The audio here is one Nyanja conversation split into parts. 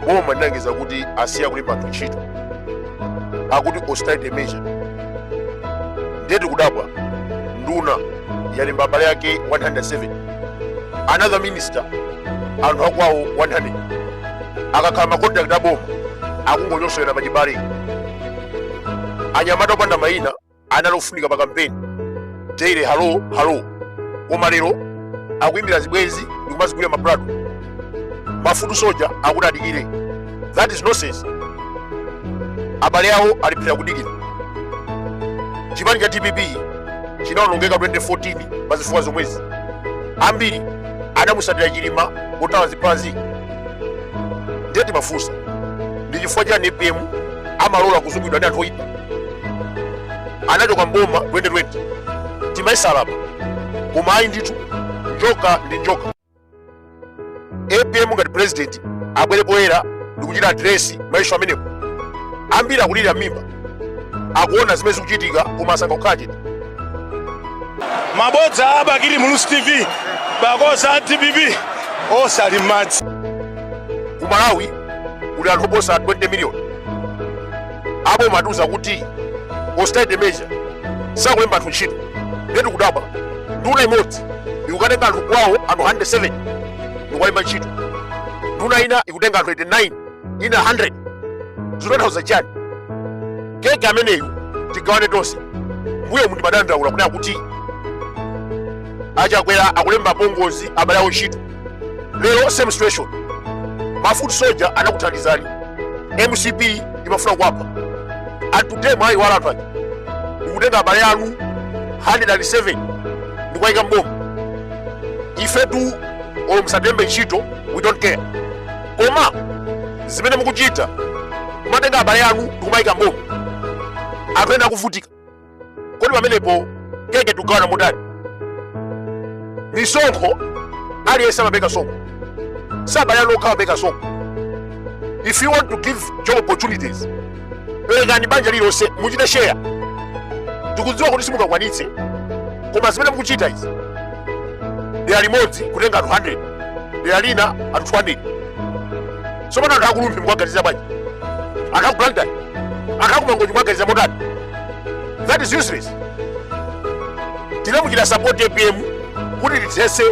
boma linalengeza kuti asiya kulemba anthu ntchito akuti austerity measure ndiye tikudabwa nduna yalemba abale yake 107 another minister anthu akwawo 100 akakhala macontract aboma akungonyosola pachibale anyamata opanda mayina anali ofunika pa kampeni daily halo halo koma lero akuimbira zibwenzi ndikumazigulira maplot mafoot soldier akuti adikire that is nonsense abale awo ali phee kudikira chipani cha dpp chinaonongeka 2014 pa zifukwa zomwezi ambiri anamutsatira chilima kuthawa zimenezi ndiye timafunsa ndi chifukwa chani apm amalola kuzungulidwa ndi anthu oyipa anachoka mboma 2020 timayesa alapa koma ayi ndithu njoka ndi njoka apm ngati president abwere poyera ndikuchita address maissue amenewo ambiri akulira mimba akuona zimene zikuchitika koma asankha kukhala chete mabodza a bakili muluzi tv makosana a dpp onse ali m'madzi ku malawi kuli anthu oposa 20 miliyoni aboma atiuza kuti austerity measure sakulemba anthu ntchito nde tikudabwa nduna imodzi ikukatenga anthu kwawo anthu 107 ndikuwalemba ntchito nduna ina ikutenga anthu 89 ina 100 zikutanthauza chani keke ameneyu tigawane tonse mbuyomu munkadandaula kunena kuti achakwera akulemba apongozi abale awo ntchito lero same situation mafoot soldier anakuthandizani mcp imafuna kuwapha and today mwaiwala anthu aja ndikutenga abale anu 107 ndikuwayika mboma ifetu olo musatilembe ntchito we don't care koma zimene mukuchita kumatenga abale anu ndikumawayika mboma anthu ena akuvutika kodi pamenepo keke tugawana motani misonkho aliyense amapereka sonkho si abale anu okha amapereka sonkho if you want to give job opportunities perekani banja lililonse muchita share tikudziwa kuti simungakwanitse koma zimene mukuchita izi dera limodzi kutenga anthu 100 dera lina anthu 200 tsopano anthu akurumphi mkuwaganiza bwanji anthu akublantyre anthu akumangochi mkuwaganiza motani that is useless tinamuchitira support apm kuti tithese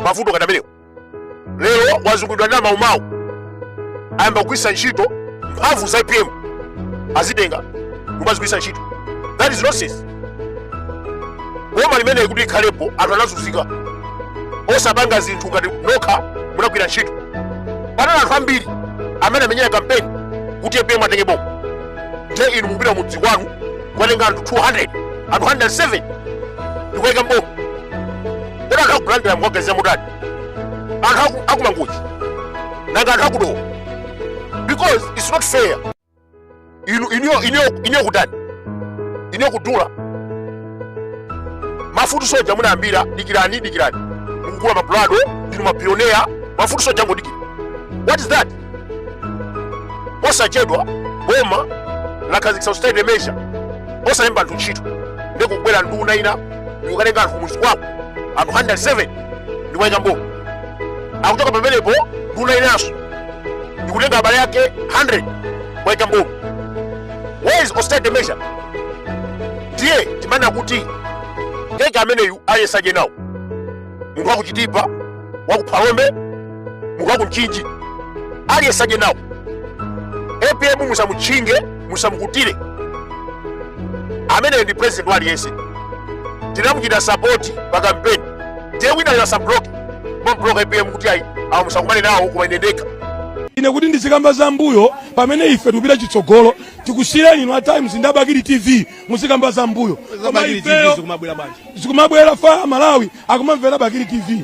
mavuto ngati amenewo lero wazungulidwa ndi amaumau ayamba kugwiritsa ntchito mphamvu za apm azitenga kumazigwiritsa ntchito that is nonsense boma limeneyi kuti ikhalepo anthu anazunzika osapanga zinthu ngati nokha munagwira ntchito panali anthu ambiri amene anamenyera kampeni kuti apm atenge boma nde inu mupita mudzi kwanu kukatenga anthu 200 anthu 107 ndikuwaika mboma kodi anthu akulower shire mukawauza mutani anthu akumangochi nanga anthu akudowa because it's not fair inu iniyo iniyo iniyo kutani iniyo kudula mafutu soja munayambira dikirani dikirani mukugula mapulado ndinu mapioneya mafutu soja angodikira what is that osachedwa boma lakhazikitsa austerity measure osalemba anthu ntchito ndi kubwera nduna ina ndikukatenga anthu kumudzi kwako anthu 107 ndikuwaika mboma kuchoka pamenepo nduna inanso ndikutenga abale ake 100 kuwaika mboma where is austerity measure ndiye timanena kuti keki ameneyu alyesedwe nawo munthu wakuchitipa wakuphalombe munthu wakumchinji aliyesaje nawo apm musamutchinge musamukutire ameneyu ndi president wa aliyense tinamuchita sapoti pa kampeni ndiye winayo asabloke kubloka apm kuti ayi awo musakumane nawo koma ine ndekha ine kuti ndizikamba za mbuyo pamene ife tikupita chitsogolo tikusiyireni inu a times ndi abakili tv muzikamba za mbuyo koma ifeyo zikumabwera fire malawi akumamvera bakili tv